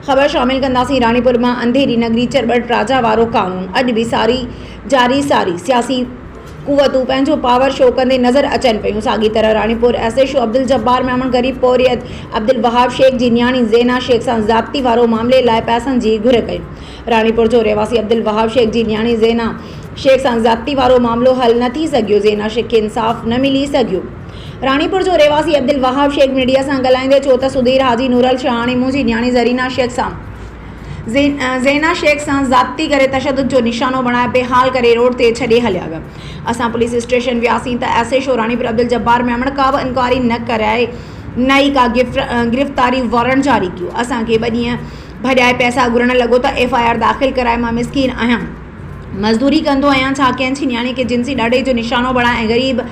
خبر شامل ڪنداسين راڻيپور مان انڌيري نگري چرٻٽ راجا وارو قانون اڄ به ساري جاري ساري سياسي قوتون پنهنجو پاور شو ڪندي نظر اچن پيون ساڳي طرح Ranipur S H O Abduljabbar Memon غريب پورهيت عبدالوهاب شيخ جي نياڻي زينا شيخ سان ضابطي وارو معاملي لاء پئسن جي گهر ڪئي راڻيپور جو رهواسي عبدالوهاب شيخ جي نياڻي زينا شيخ سان ضابطي وارو معاملو حل نه ٿي سگهيو زينا شيخ کي انصاف نه ملي سگهيو راڻيپور جو رهواسي عبدالوهاب شيخ ميڊيا سان ڳالهائيندي چيو ته سڌير حاجي نورل شاهه هاڻي منهنجي نياڻي زرينا شيخ سان زينا شيخ سان زيادتي ڪري تشدد جو نشانو بڻائي بيحال ڪري روڊ تي ڇڏي هليا ويا اسان پوليس اسٽيشن وياسين ته S H O Ranipur Abduljabbar Memon ڪا به انڪوائري نه ڪرائي نه ئي ڪا گرفتاري وارنٽ جاري ڪيو اسان کي ٻه ڏينهن ڀڄائي پئسا گهرڻ لڳو ته ايف آء آر داخل ڪرائي مان مسڪين آهيان مزدوري ڪندو آهيان ڇا ڪنهن جي نياڻي کي جنسي ڏاڍائي جو نشانو بڻائي ۽ غريب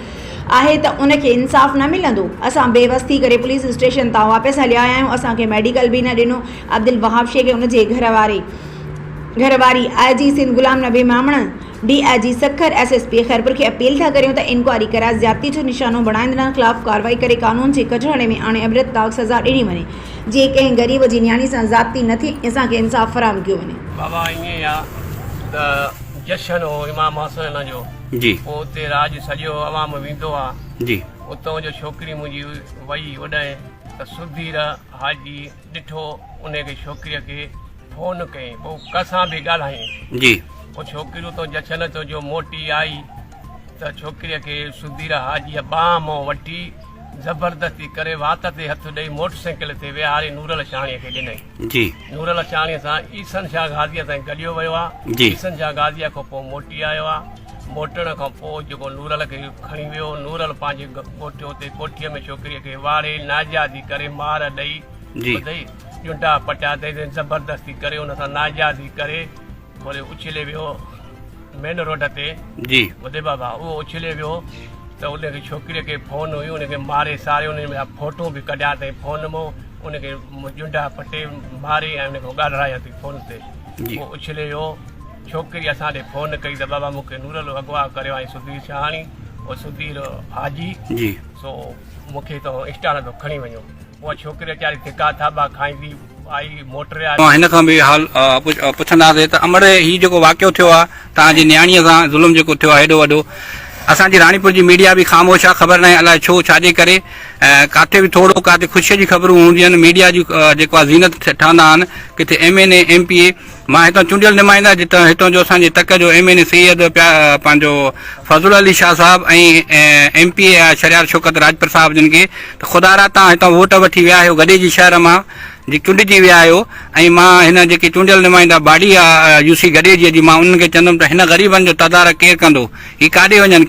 آهي ته ان کي انصاف نه ملندو، اسان بي وس ٿي ڪري پوليس اسٽيشن تان واپس هليا آيا آهيون، اسان کي ميڊيڪل به نه ڏنو، عبدالوهاب شيخ ۽ ان جي گهر واري، گهر واري، I G Sindh Ghulam Nabi Memon, D I G Sukkur, S S P Khairpur کي اپيل ٿا ڪريون ته انڪوائري ڪرائي زيادتي جو نشانو بڻائيندڙن خلاف ڪارروائي ڪري قانون جي ڪچهڙي ۾ آڻي عبرتناڪ سزا ڏني وڃي، جيئن ڪنهن غريب جي نياڻي سان زيادتي نه ٿئي ۽ اسان کي انصاف فراهم ڪيو وڃي. بابا ائين آ ته جشن هو امام حسين جو. جي. پوء اتي راڄ سڄو عوام ويندو آ. جي. اتئون جو ڇوڪري منهنجي وئي اوڏانهن ته سڌير حاجي ڏٺو انهي کي ڇوڪري کي فون ڪئين پوء ڪنهن سان به ڳالهائين. جي. پوء ڇوڪري اتئون جڇن ٿيو جو موٽي آئي ته ڇوڪري کي سڌير حاجي ٻانهن مئون وٺي زبردستي ڪري وات تي هٿ ڏئي موٽرسائيڪل تي ويهاري نورل شاهڻي کي ڏنئين. جي. نور لکياڻيء سان احسن شاهه غازيء تائين گڏيو ويو آ. جي. احسن شاهه غازيء کان پوء موٽي آيو آ. موٽڻ کان پوء جيڪو نورل کي کڻي ويو. نورل پنهنجي ڳوٺ اتي ڪوٺيء ۾ ڇوڪريء کي واڙي ناجائزي ڪري مار ڏئي، جي. ٻڌئي، ڄنڊا پٽيا اٿئي تنهن زبردستي ڪري ان سان ناجائزي ڪري، وري اڇلي ويو مين روڊ تي جي ٻڌي بابا اهو اڇلي ويو ته ان کي ڇوڪري کي فون هيو ان کي ماري ساري ان جا فوٽو به ڪڍيا اٿئي فون مو ان کي جنڊا پٽي ماري ۽ ان کي ڳالهرايا اٿئي فون تي اهو اڇلي ويو ڇوڪري اسان ڏي فون ڪئي ته بابا مونکي نورل اغوا ڪريو آهي سڌير شاهاڻي او سڌير حاجي جي سو مونکي تو انسٽا تان کڻي وڃو اها ڇوڪري ويچاري ڌڪا ٿاٻا کائيندي آئي موٽري آئي. هن کان به حال پڇنداسين ته امڙي هي جيڪو واقعو ٿيو آهي توهان جي نياڻيء سان ظلم جيڪو ٿيو آهي هيڏو وڏو اسان جي راڻيپور جي ميڊيا به خاموش آهي خبر ناهي الاء ڇو ڇاجي ڪري ڪاٿي به ٿورو ڪاٿي خوشيء جي خبرون هونديون آهن ميڊيا جي جيڪو آهي زينت ٺهندا آهن ڪٿي M N A M P A مان هتان چونڊيل نمائنده جتان هتان جو اسان جي تڪ جو ايم اين اي سيد پيا پنهنجو Fazal Ali Shah Sahib ۽ M P A آء شهريار شوڪت راڄپر صاحب جن کي ته خدا را تان هتان ووٽ وٺي ويا آهيو گڏي جي شهر مان جي چونڊجي ويا آهيو ۽ مان هن جيڪي چونڊيل نمائنده باڊي آء يو سي گڏي جي جي مان انهن کي چوندم ته هن غريبن جو تدارڪ ڪير ڪندو هي ڪاڏي وڃن